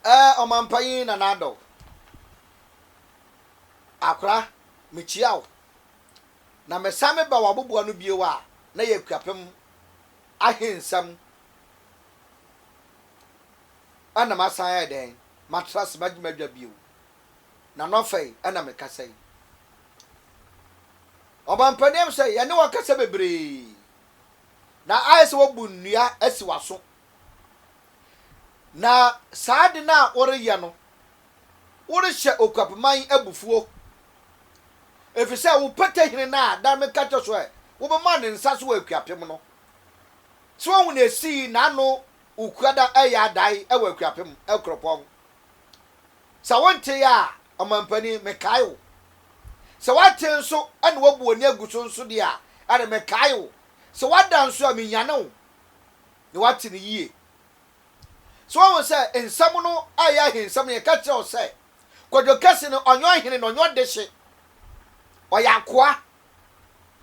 Eh ɔmanpanyin Nana Addo Akora mekyia wo na mesan me ba w'aboboa no bio a na yɛ Akuapem ahe nsɛm ɛna masan ayɛ dɛn matra ase magye m'adwa bio na nɔfɛi ɛna mekasa yi Ɔmanpanin ɛm sɛ yɛne wo akasa bebree na ayɛ sɛ woabu nnua asi w'aso Na saa ade no a woreyɛ no, worehyɛ okuapman abufuo, ɛfiri sɛ wo pɛtɛhene no a da meka kyɛ so ɛ wobɛma ne nsa so wɔ akuapem no, sɛ woahu na ɛsii n'ano okua da ɛyɛ adae ɛwɔ akuapem ɛkuropɔn. Sɛ wontee a, ɔmampanin, mekae wo. Sɛ woate nso na woabu w'ani agu so nso deɛ a, ɛne mekae wo. Sɛ woada nso a, menyane wo. na wate no yie. So woahu sɛ nsɛm no a ɛyɛ ahensɛm no, yɛka kyerɛ wo sɛ Kwadwo Kɛse no, ɔnyɛ ɔhene na ɔnyɛ ɔdehye. Ɔyɛ akoa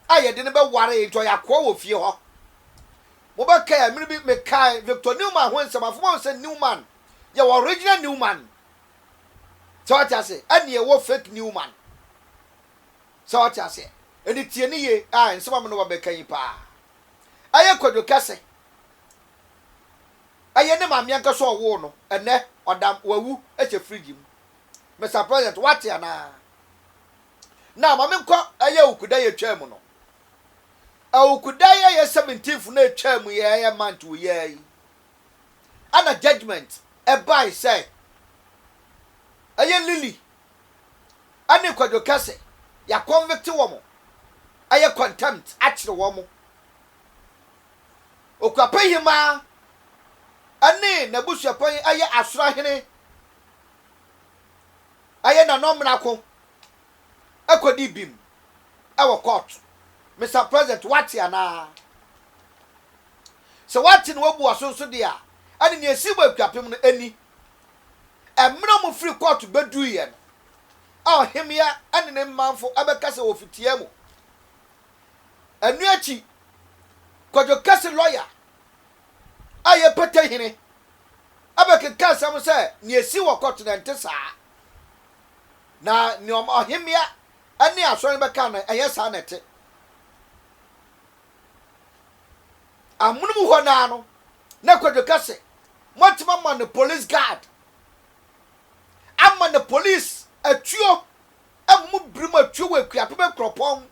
a yɛde no bɛware, enti ɔyɛ akoa wɔ fie hɔ. Mobɛkae a, mmere bi mekae Victor Newman ho nsɛm. Afei moahu sɛ Newman yɛ original Newman. Sɛ woate aseɛ? Ɛnneɛ ɛwɔ fake Newman. Sɛ woate aseɛ? Enti tie no yie, ah, nsɛm a me ne wo abɛka yi paa. Ɛyɛ kwadwo kɛse. Ɛyɛ ne maame ankasa a ɔwoo no. Ɛnnɛ, ɔda wawu hyɛ fridge mu. Mister President, woate anaa? Now, ma menkɔ ɛyɛ Awukudan a etwaa mu no. Awukudan a ɛyɛ seventeenth no a etwaa mu yi a ɛyɛ month wɔ yi ara yi, ɛna judgement bae sɛ ɛyɛ Lily ɛne kwadwo kɛse yɛ convict wɔn ɛyɛ contempt akyere wɔn okuapɛ hemaa ɛne n'abusuapɛn ɛyɛ asoro ahene ɛyɛ nanɔ mmarako ɛkɔdi bim ɛwɔ court Mister president wate anaa sɛ wate na wabu waso nso deɛ a ɛne nea ɛsii wɔ akuapem no ɛni Mmerɛ a wɔfiri kɔɔto bɛduruiɛ no, a ɔhemmea ne ne manfo bɛkasa wɔ fitia mu. Ɛno akyi, Kwadwo Kɛse lɔya a yɛ Pete Hene bɛkeka asɛm sɛ nea ɛsii wɔ kɔɔto no ɛnte saa, na nea ɔhemmea ne asɔre no bɛkaa no ɛnyɛ saa na ɛte. Amonom hɔ no ara no, Na kwadwo ka sɛ moatumi ama no police guard ama no police atuo ɛma mo birim atuo wɔ akuapem nkuropɔn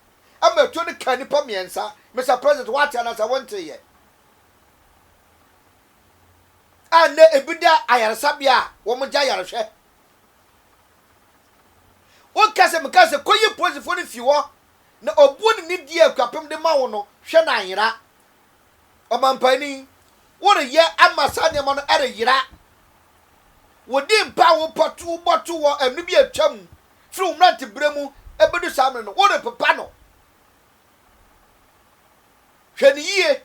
ɛma atuo no kaa nipa mmiɛnsa Mister president woate anasa wonte yɛ a nnɛ ebi da ayaresabea a wɔn gya yarehwɛ woka sɛ meka sɛ kɔyi polisifoɔ no fi hɔ na obuo ne ne die akuapem de ma wo no hwɛ no anyera Ɔmampanin, woreyɛ ama saa nneɛma no reyera. Wodii mpa a wobɔ to wɔ ɛno bi a atwam firi wo mmeranteberɛ mu bɛdu saa mmerɛ no, worepepa no. Hwɛ no yie.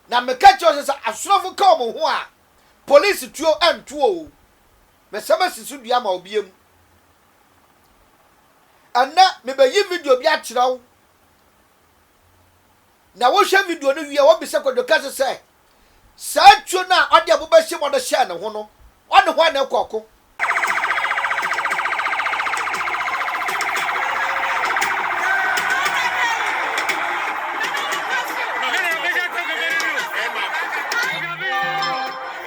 Na meka kyerɛ wo sɛ sɛ asrafo ka wɔn ho a, polisi tuo nto o. Mɛsɛm asi so dua ama obi am. Ɛnnɛ mebɛyi video bi akyerɛ wo. Na wohwɛ video no wie a, wobisa Kwadwo Kase sɛ, Saa tuo no a ɔde ɛbo bɛhye mu de hyɛɛ ne ho no, ɔne hwan na ɛkɔ ɔko?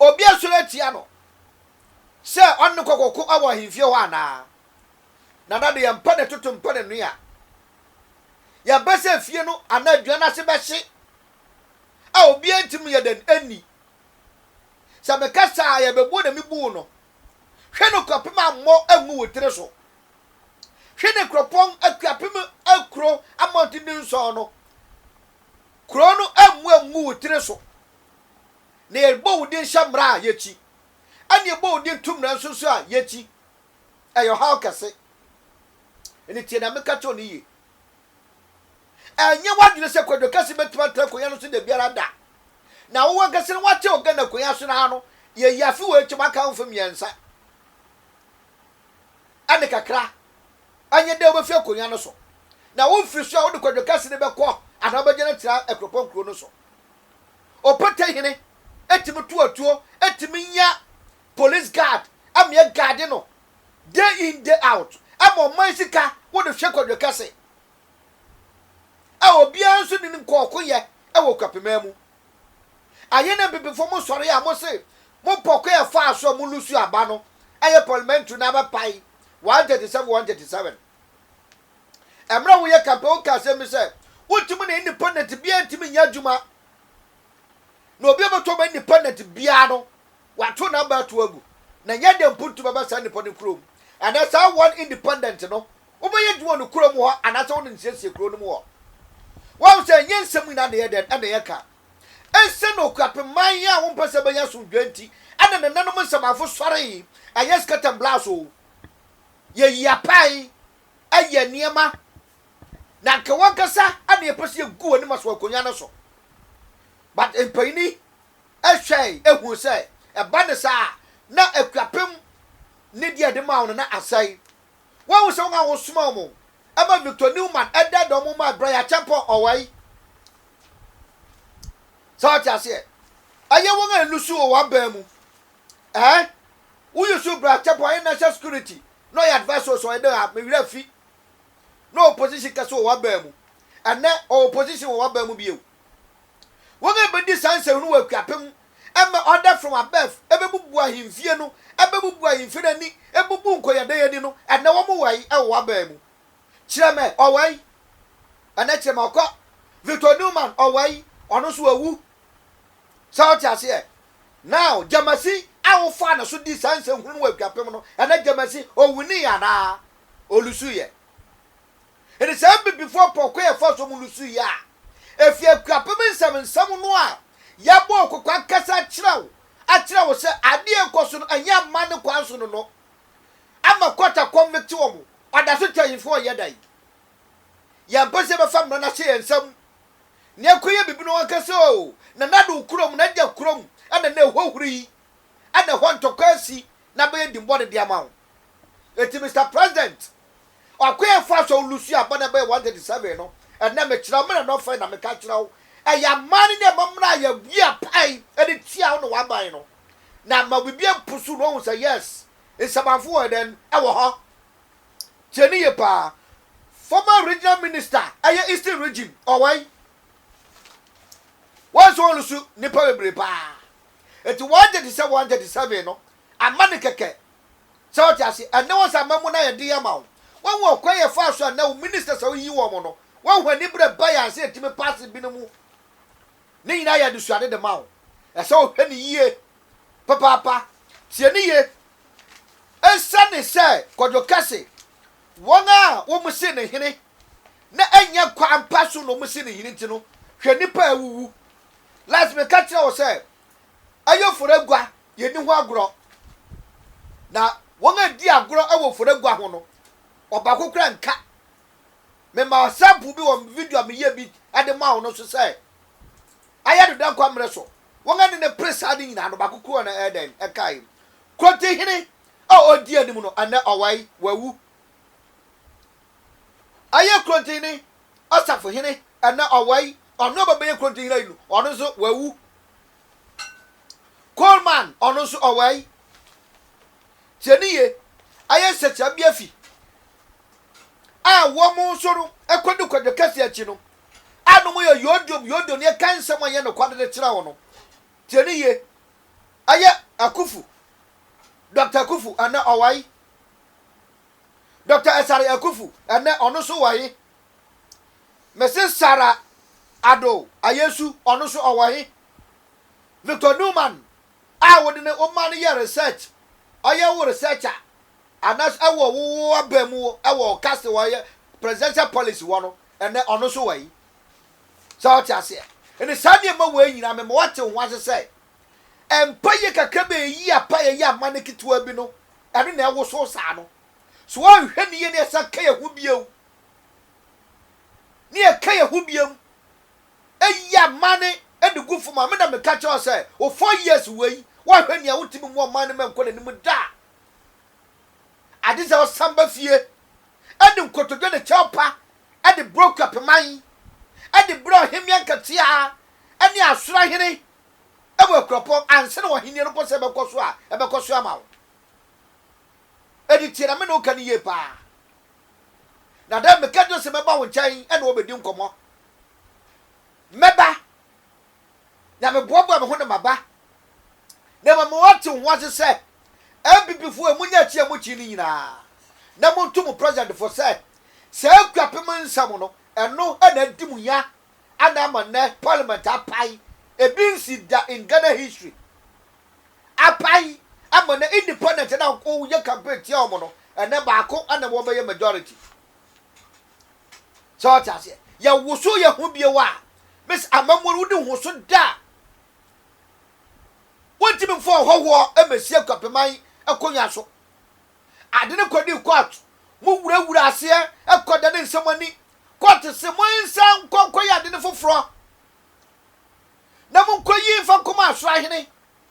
obi asɔre atia no sɛ ɔne no kɔkɔko wɔ ahemfie hɔ anaa? Nana de yɛmpɛ ne toto mpɛ ne noa. Yɛbɛ sɛ efie no anaa aduan no ase bɛhye a obiara ntim yɛ dɛn nni? Sɛ meka saa a yɛbɛbu na mebu wo no. Hwɛ no kɔpem ammɔ angu wo tiri so. Hwɛ ne kuropɔn akuapem akuro amɔntenden nson no. Kuro no mmu angu wo tiri so. Na yɛbɔ wo din hyɛ mmara a, yɛkyi. Ɛna yɛbɔ wo din to mmara nso so a, yɛkyi. Ɛyɛ ɔhaw kɛse. Ɛnna tie nea meka kyerɛ wo no yie. Ɛnyɛ w'adwene sɛ Kwadwo Kɛse bɛtumi atena akonnwa no so da biara da. Na wo ankasa no woate wo Ghana akonnwa so no ara no, yɛyi afe wei akyɛm aka ho mfe mmiɛnsa ne kakra. Ɛnyɛ dɛ wubefi akonnwa no so, na wo mfiri so a wode kwadwo kɛse no bɛkɔ anaa wobɛgyina atia akuropɔn kurow no so. Ɔpata hene tumi to atuo, tumi nya police guard ma ɛgaade no day in day out, ɛma ɔman sika wode hwɛ kwadwo kɛse a obiara nso nni no nkɔɔkoyɛ wɔ Kwapima mu. Ɛyɛ na Abibifo mo sɔre a mo se mo pɔ ko yɛ faa so a mo lusu aba no ɛyɛ parliamentary na abɛ pae 137 137. Ɛmmerɛ a wo yɛ campaign wo ka asɛm bi sɛ wo ntumi na independent biaa ntumi nyɛ adwuma na obi a ɔbɛto aba independent biaa no wato na aba ato agu na nyɛ dɛ mpo ntumi aba saa nipa no kurom ɛnɛ saa one independent no Wobɛyɛ adwuma wɔ ne kurom hɔ anaasɛ wo ne no siesie kuro no mu hɔ. Woahu sɛ ɛnyɛ nsɛm nyinaa na ɛyɛ dɛn na ɛyɛ ka. Esiane okuapemman a wompɛ sɛ ɛbɛyɛ asomdwoe nti na nananom nsɛmafo sɔree, ɛnyɛ scatter and blast oo. Yɛyi apae, yɛ nneɛma, na anka wɔn ankasa na yɛpɛ sɛ yegu wɔn anim aso akonnwa no so. But mpanyin hwɛe hui sɛ ɛba no saa a, na akuapem nidi a yɛde maa wɔn no asɛe. Woahu sɛ wɔn a wɔsomaa wɔn ma Victor Newman da dɔm mu ma Brian Acheampong Ɔwɛe? Sɛ wote aseɛ, ɛyɛ wɔn a ɛlusu wɔ w'aban mu. Ɛɛ, wo yusu Brian Acheampong ayɛ national security na ɔyɛ adviser so ɔyɛ dɛn a me werɛ afi. Na ɔwɔ position kɛse wɔ w'aban mu. Ɛnnɛ ɔwɔ position wɔ w'aban mu bio. Wɔn a ɛbɛdi saa nsɛm no wɔ Akuapem ɛma order from above ɛbɛbubu ahemfie no, ɛbɛbubu ahemfie no ani, ɛbubu nkɔyɛdɛn ani no, ɛnɛ wɔn wɔ yi ɛwɔ w'abaa mu. Kyerɛ mɛ ɔwɔ yi, ɛnɛ kyerɛ mɛ ɔkɔ. Victor Newman ɔwɔ yi, ɔno nso wawu. Sɛ ɔte aseɛ? Now Gyamasi a wofaa ne so dii saa nsɛnhunu no wɔ Akuapem no, ɛnɛ Gyamasi ɔwuniiɛ anaa ɔlusuiɛ? Enti sɛ Abibifo apɔnkɔ yɛ fa so mu no su yɛ a, efi akuapem nsɛmnsɛm no a yɛabɔ wo kɔkɔ ankasa akyerɛ wo akyerɛ wo sɛ ade a ɛrekɔ so no nyɛ amanne kwan so no no ama court aconvict wɔn. Ɔdaso twa ahemfo a wɔyɛ da yi. Yɛmpɛ sɛ yɛbɛfa mmara no ahyɛ yɛn nsam na yɛakɔyɛ biribi na wɔaka sɛ oo, Nana Addo wo kurom, n'agya kurom na na ɛhɔ huri yi, na ɛhɔ ntɔkwa asi na abɛyɛ dimmɔne de ama wo. Enti Mister President, Ɔkwan a ɛfa so a Lucia abɔ ne bɛyɛ 137 no, ɛnnɛ mekyerɛ wo mmara no ɔfã yi na meka kyerɛ wo, ɛyɛ aman no ne ɛma mmara a yɛabue apae de tia wo ne w'aban no, na ama obibiara mpo so na ohu sɛ yes, nsamanfo wɔ dɛn? wɔ hɔ. Tie no yie paa. Former regional minister ɛyɛ Eastern region, ɔwɔ yi. Wɔn nso wɔlusu nnipa bebree paa. Enti 137 137 no, Ama no kɛkɛ. Sɛ wote ase? Ɛnnɛ wɔn saa mmamu no ayɛ den ama wo. Woahu ɔkwan yɛfaa so a ɛnnɛ wo ministers a woyiyi wɔn no, wɔn anibere ba yɛn ansa yɛtumi paase binom mu. Ne nyinaa yɛ adesuade de ma wo. Ɛsɛ sɛ wohwɛ no yie papaapa. Tie no yie. Esiane sɛ Kwadwo ka se wɔn a wɔsii no hene na ɛnyɛ kwan pa so na wɔsii no hene nti no, hwɛ nnipa a awuwu. Last meka kyerɛɛ wo sɛ ɛyɛ fɔragua, yɛnni ho agorɔ. Na wɔn a ɛdi agorɔ wɔ fɔragua ho no, ɔbaako koraa nka. Mema sample bi wɔ video a meyɛ bi de maa wo no so sɛ, ayɛ no dɛn kwa mmerɛ so. Wɔn a ne no pere saa no nyinaa no, baako koraa na ɛyɛ dɛn ɛkae. Kurotihene a ɔdi anim no, ɛnnɛ ɔwae, wawu. Ayɛ kurotihene ɔsafohene ɛna ɔwɔ yi ɔno ɔba bɛyɛ kuro ntɛnyina yi no ɔno nso wawu coleman ɔno nso ɔwɔ yi tiɛ ne yie ayɛ nsɛkyerɛ bi afi a wɔn nso no ɛkɔdu kwadwo kɛse akyi no a no mo yɛ yodom yodom ne ɛka nsɛm a yɛ no kwadede kyerɛ wɔn no tiɛ ne yie ayɛ akufu dɔkta akufu ɛna ɔwɔ yi Doctor Asare Akufu ɛnɛ ɔno nso wɔ he? Mese Sarah Ado Ayesu ɔno nso ɔwɔ he? Victor Newman a wode ne wo ma no yɛ research, ɔyɛ wo researcher anaasɛ ɛwɔ wo wo aba mu ɛwɔ wo casting ɔyɛ presidential policy hɔ no ɛnɛ ɔno nso wɔ he? Sɛ wote aseɛ? Enti saa nneɛma wei nyinaa mema woate wo ho ase sɛ Mpaye kakra bi a eyi apa yɛyɛ ama no ketewa bi no, ɛno na ɛwosow saa no. So anhwɛ no yie na yɛsan ka yɛn ho bio, na yɛka yɛn ho biom yɛ ama no de gu fam a, me na meka kyerɛ wo sɛ, wo four years wei, woanhwɛ nea wotumi mmoa ɔman no ma ɛnkɔ n'anim da a, agye sɛ wosan ba fie de nkotodwe ne kyɛw pa de brɛ Okuapɛman, de brɛ Ɔhemmea Nketeaa ne Asorahene wɔ akuropɔn ansa na w'ahenni no kɔsɛ bɛkɔ so a, ɛbɛkɔ so ama wo. Ɛde tie na me ne wo ka no yie paa. Na dɛn meka kyerɛ sɛ mɛba wo nkyɛn ɛne wo bɛdi nkɔmmɔ. Mɛba na meboaboa me ho na maba. Na mmom wɔte wo ho ase sɛ NPP foɔ yi mo nyɛ akyi a mo kyi no nyinaa na mo to mo president foɔ sɛ saa akuapem nsɛm no ɛno na adi mo nya Adan ama nnɛ parliament apae ebi nsi da in Ghana history. Apae ama nnɛ independent na woyɛ campaign tia wɔn no ɛnɛ baako na wɔbɛyɛ majority. Sɛ ɔte aseɛ yɛ woso yɛ ho bio a miss amamuo no wodi ho so da a wɔntumi mfa ɔhɔhoɔ mmɛsi akwapeman akonnwa so. Ade no kɔdi court mo wurawura aseɛ ɛkɔda ne nsɛm ani Court se monsan nkɔ nkɔyɛ ade no foforɔ na monkɔyi mfa nkɔma Asoro ahene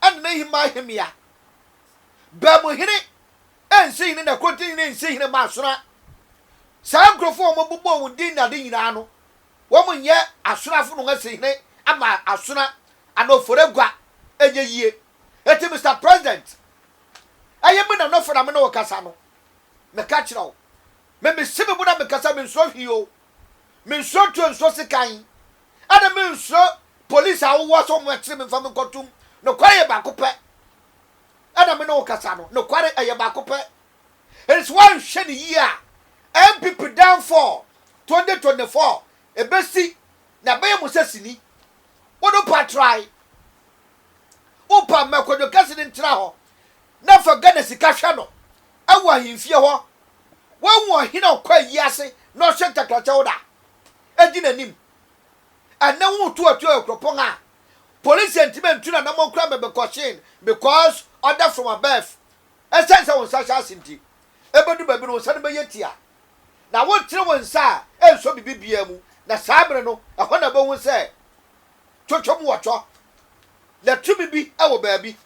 ne n'ahemma ahemmea. Baamuhene nsi hene na Kotin hene nsi hene mma Asoro. Saa nkurɔfoɔ a wɔbobɔɔ wɔn din ne ade nyinaa no, wɔnyɛ Asoro afo na wɔasi hene ama Asoro anaa Oforegwa. Ɛnyɛ yie. Enti Mister President, ɛyɛ me Nana Ofo na me ne wo kasa no, meka kyerɛ wo, Me mese me bo na meka sɛ mensuro hwee o, mensuro tuo nsuro sekan, ɛna mensuro police a wowoa sɛ wɔn akyere me mfa me nkɔ tum, nokware yɛ baako pɛ, ɛna me ne wo kasa no, nokware ɛyɛ baako pɛ, ɛnti woanhwɛ no yie a NPP downfall 2024 ɛbɛsi na ɛbɛyɛ mo sɛ sini, wo no pa try, wo pa ma kwadwo kɛse no ntena hɔ na fa Ghana sika hwɛ no, wɔ ahemfie hɔ. Woahu ɔhene a ɔkɔ ayi ase na ɔhyɛ ntakrakyɛw da a edi n'anim? Ɛnnɛ woretu atuo wɔ kuropɔn a polisi antumi antu n'anammɔn koraa ma bɛkɔhyee no because order from above. Esiane sɛ wo nsa hyɛ ase nti, ebedu baabi no wo nsa no bɛyɛ tia. Na woretene wo nsa a ɛnsɔ biribi biara mu, na saa bere no ɛhɔ na wubehu sɛ twɔtwɔm wɔ twɔ, na tumi bi wɔ baabi.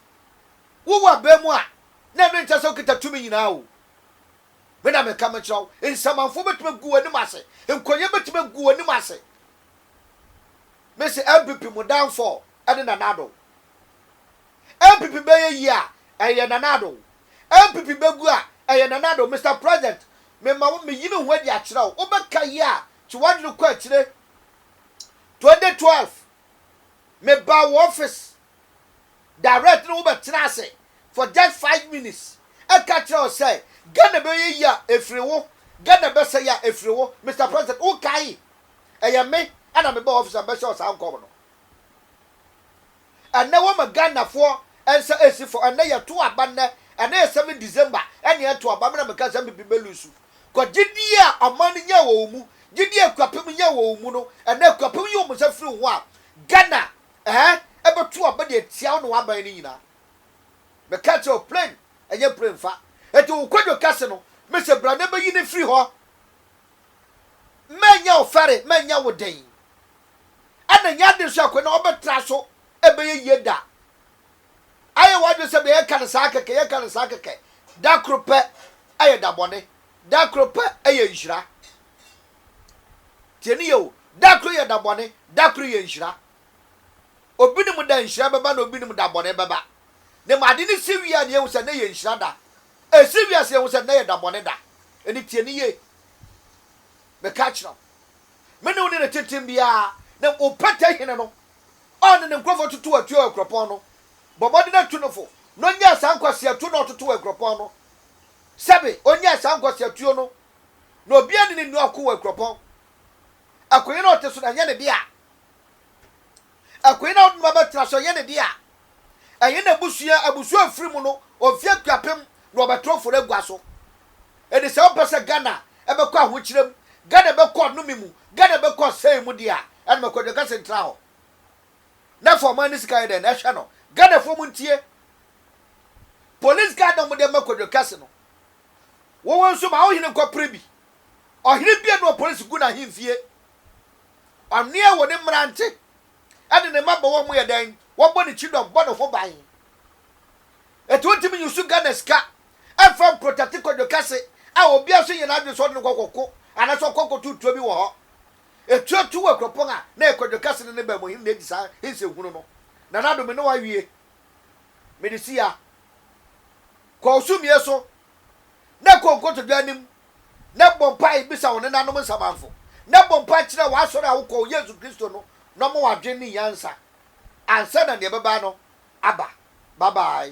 Wowɔ aban mu a, na ɛno nkyerɛ sɛ wokita tumi nyinaa oo. Me na meka mekyerɛ wo, nsamanfoɔ bɛtumi agu w'anim ase, nkɔyɛ bɛtumi agu w'anim ase. Me se NPP mo downfall ɛne Nana Addo. NPP bɛyɛ yie a, ɛyɛ Nana Addo. NPP bɛgu a, ɛyɛ Nana Addo. Mister President, me ma wo, meyi me ho adi akyerɛ wo, wobɛka yie a, twe w'adwene kɔ akyire. 2012, mebaa wo office direct no wobɛtena ase for just five minutes ɛka kyerɛ wo sɛ Ghana bɛyɛ yie a ɛfiri wo Ghana bɛsɛe a ɛfiri wo Mister President wokae ɛyɛ me ɛna mebɔɔ office a mɛhyɛ wo saa nkɔm no ɛnɛ wɔma Ghanafoɔ nsa ɛsi fɔ ɛnɛ yɛto aba nnɛ ɛnɛ yɛ 7 December ɛne ɛto aba mena meka sɛ mpipi bɛ lusu kɔ gyedie a ɔman no nyɛ wɔ wo mu gyedie a akuapem nyɛ wɔ wo mu no ɛnɛ akuapem yi wɔn nsa firi wo ho a Ghana Ɛɛ, ɛbɛto aba de atia wo ne w'aban no nyinaa. Meka kyerɛ wo, plane nyɛ plane fa. Enti wo kwadwo kɛse no, mise bra na bɛyi no firi hɔ. Mɛnyɛ wo fɛre, mɛnyɛ wo den. Ɛna nyɛ ade nso akonnwa a wobɛtra so bɛyɛ yie da. Ayɛ w'adwene sɛ deɛ yɛka no saa kɛkɛ, yɛka no saa kɛkɛ. Da koro pɛ yɛ da bɔne, da koro pɛ yɛ nhyira. Tie no yie o, da koro yɛ da bɔne, da koro yɛ nhyira. Obi nim da nhyira bɛba na obi nim da bɔne bɛba. Na mmom ade no si wie a na yɛhu sɛ nnɛ yɛ nhyira da. Ɛsi wie a sɛ yɛhu sɛ nnɛ yɛ da bɔne da. Ɛnti tie no yie. Meka kyerɛ wo, me ne wo ne no tenten biara na wo pɛtɛ hene no a ɔne ne nkurɔfoɔ toto atua wɔ akuropɔn no, bɔ mmɔden atu no fo na ɔnyaa saa nkwaseatuo no a ɔtoto wɔ akuropɔn no. Sɛbe ɔnyaa saa nkwaseatuo no na obiara nni ne nua ɔko wɔ akuropɔn. Akoe no a ɔte so no, ɛnyɛ ne dea. Akoe no a ɔde ne ba bɛtena so, ɛnyɛ ne dea. Ɛnyɛ n'abusua, abusua a ofiri mu no, ofi Akuapem na ɔbɛtra Ofori agua so. Enti sɛ wopɛ sɛ Ghana bɛkɔ ahokyerɛ mu, Ghana bɛkɔ ɔnome mu, Ghana bɛkɔ ɔsɛe mu de a, ɛne ma Kwadwo Kɛse ntra hɔ, na fa ɔman no sika yɛ dɛn? Na ɛhwɛ no. Ghanafoɔ montie. Police guard a wɔde ama Kwadwo Kɛse no, Woho nso ma ohene nkɔ pere bi. Ɔhene biara ne ɔpolisi gu n'ahemfie. Ɔneɛ wɔ ne mmerante ne ne mmabɔwɔ ho yɛ dɛn? Wɔbɔ ne kyidɔm, bɔ ne ho ban. Eti wontumi nyi so Ghana sika mfa mprotate kwadwo kɛse a obiara nso nyɛ n'adwene sɛ ɔde no kɔ kɔko anaasɛ ɔkɔ akɔto tuo bi wɔ hɔ. Etuatuu wɔ akuropɔn a na ɛyɛ kwadwo kɛse no ne bɛn mu hene na edi saa hensɛnhunu no. Nana Addo me ne wo awie. Mede si ha. Kɔ wo sumie so na kɔ nkotodwe anim na bɔ mpae bisa wo nenanom nsamanfo na bɔ mpae kyerɛ w'asɔre a wokɔ wɔ Yesu Kristo no na ɔmma wo adwene ne nyansa ansa na nea ɛbɛba no aba. Bye bye.